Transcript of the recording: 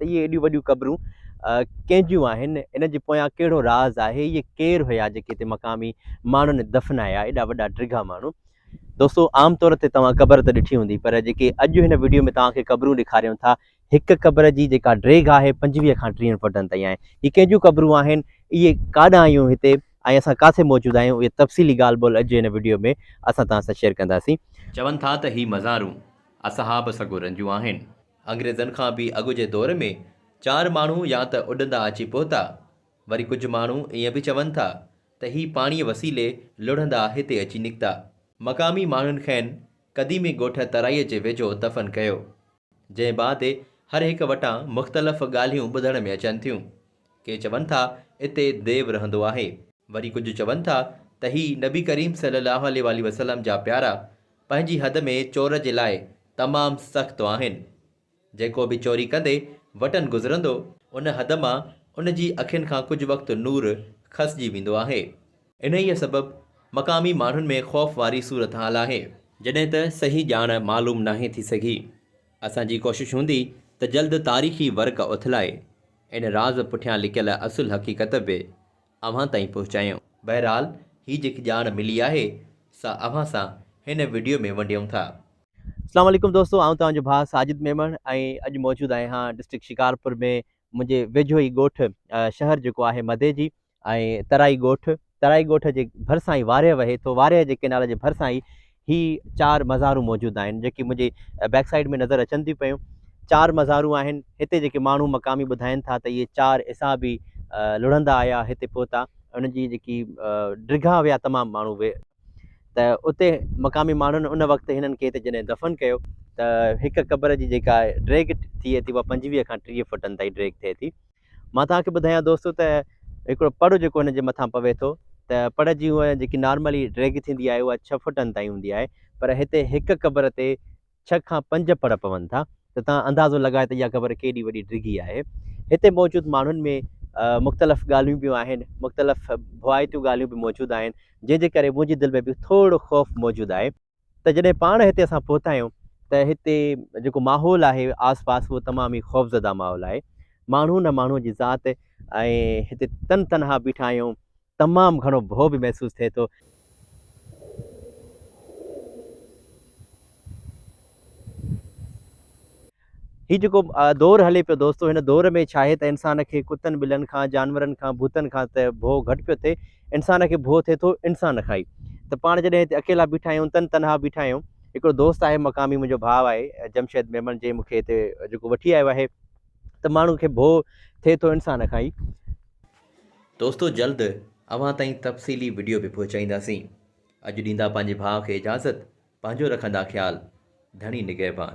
۽ ته اهي ايڏيون وڏيون قبرون ڪنهن جون آهن؟ ان جي پويان ڪهڙو راز آهي؟ اهي ڪير هيا جيڪي هتي مقامي ماڻهن دفنايا، ايڏا وڏا ڊگها ماڻهو؟ دوستو عام طور تي توهان قبر ته ڏٺي هوندي پر جيڪي اڄ هن وڊيو ۾ توهان کي قبرون ڏيکاريون ٿا هڪ قبر جي جيڪا ڊيگهه آهي پنجويهه کان ٽيهن فوٽن تائين آهي هي ڪنهن جون قبرون آهن اهي ڪاڏانهن ايون هتي ۽ اسان ڪاٿي موجود آهيون اهي تفصيلي ڳالهه ٻولهه اڄ جي هن وڊيو ۾ اسان توهان سان شيئر ڪنداسين. چون ٿا ته هي مزارون اصحاب سڳورن جون آهن. انگريزن کان به اڳ جي دور ۾ چار ماڻهو يا ته اڏندا اچي پهتا، وري ڪجهه ماڻهو ائين به چون ٿا ته هي پاڻيء وسيلي لڙهندا هتي اچي نڪتا. مقامي ماڻهن کين قديمي ڳوٺ ترائيء جي ويجهو دفن ڪيو، جنهن بعد هر هڪ وٽان مختلف ڳالهيون ٻڌڻ ۾ اچن ٿيون، ڪي چون ٿا اتي ديو رهندو آهي، وري ڪجهه چون ٿا ته هي نبي ڪريم صلي الله عليه واٰله وسلم جا پيارا پنهنجي حد ۾ چور جي لاء تمام سخت آهن. جيڪو به چوري ڪندي وٽن گذرندو، ان حد مان ان جي اکين کان ڪجهه وقت نور کسجي ويندو آهي. انهيء سبب مقامي ماڻهن ۾ خوف واري صورتحال آهي. جڏهن ته صحيح ڄاڻ معلوم ناهي ٿي سگهي. اسان جي ڪوشش هوندي ته جلد تاريخي ورق اٿلائي، ان راز پٺيان لڪيل اصل حقيقت به اوهان تائين پهچايون. بهرحال هي جيڪي ڄاڻ ملي آهي سا اوهان سان هن وڊيو ۾ ونڊيون ٿا. اسلام عليڪم دوستو آئون توهان جو ڀاء ساجد ميمڻ ۽ اڄ موجود آهيان ڊسٽرڪٽ شڪارپور ۾ منهنجي ويجهو ئي ڳوٺ شهر جيڪو آهي مديجي ۽ ترائي ڳوٺ ترائي ڳوٺ جي ڀرسان ئي وارهه وهي ٿو وارهه جي ڪينال جي ڀرسان ئي هي چار مزارون موجود آهن جيڪي منهنجي بيڪ سائيڊ ۾ نظر اچن ٿيون پيون چار مزارون آهن هتي جيڪي ماڻهو مقامي ٻڌائين ٿا ته اهي چار عيسيٰ به لڙهندا آيا هتي پهتا ان جي جيڪي ڊگها ويا تمام ماڻهو وي ته اتي مقامي ماڻهن ان وقت هنن کي هتي جڏهن دفن ڪيو ته هڪ قبر جي جيڪا ڊيگهه ٿئي ٿي اها پنجويهه کان ٽيهه فٽن تائين ڊيگهه ٿئي ٿي مان توهان کي ٻڌايان دوستو ته هڪڙو پڙ جيڪو هن جي مٿان پوي ٿو ته پڙ جي هونء جيڪي نارملي ڊيگهه ٿيندي آهي اها ڇهه فوٽن تائين هوندي آهي پر هتي هڪ قبر تي ڇهه کان پنج پڙ پون ٿا ته توهان اندازو لڳايو ته اها قبر ڪيڏي وڏي ڊگهي آهي هتي موجود ماڻهن ۾ مختلف ڳالهيون به آهن مختلف ڀوائتيون ڳالهيون به موجود آهن جنهن جي ڪري منهنجي دل ۾ به ٿورڙو خوف موجود آهي ته جڏهن پاڻ هتي اسان پهتا آهيون ته هتي جيڪو ماحول آهي آس پاس اهو تمام ئي خوفزده ماحول آهي ماڻهو نه ماڻهو جي ذات ۽ هتي تن تنها بيٺا آهيون تمام گهڻو ڀو به محسوس ٿئي ٿو. هي جيڪو دور هلي پيو دوستو هن دور ۾ ڇاهي ته انسان کي ڪتن ٻلن کان جانورن کان ڀوتن کان ته ڀو گهٽ پيو ٿئي انسان کي ڀو ٿئي ٿو انسان کان ئي ته پاڻ جڏهن هتي اڪيلا بيٺا آهيون تن تنها بيٺا آهيون هڪڙو دوست آهي مقامي منهنجو ڀاء آهي جمشيد ميمڻ جنهن مونکي هتي جيڪو وٺي آيو آهي ته ماڻهو کي ڀو ٿئي ٿو انسان کان ئي. دوستو جلد اوهان تائين تفصيلي وڊيو به پهچائينداسين اڄ ڏيندا پنهنجي ڀاء کي اجازت پنهنجو رکندا خيال ڌڻي نگهبان.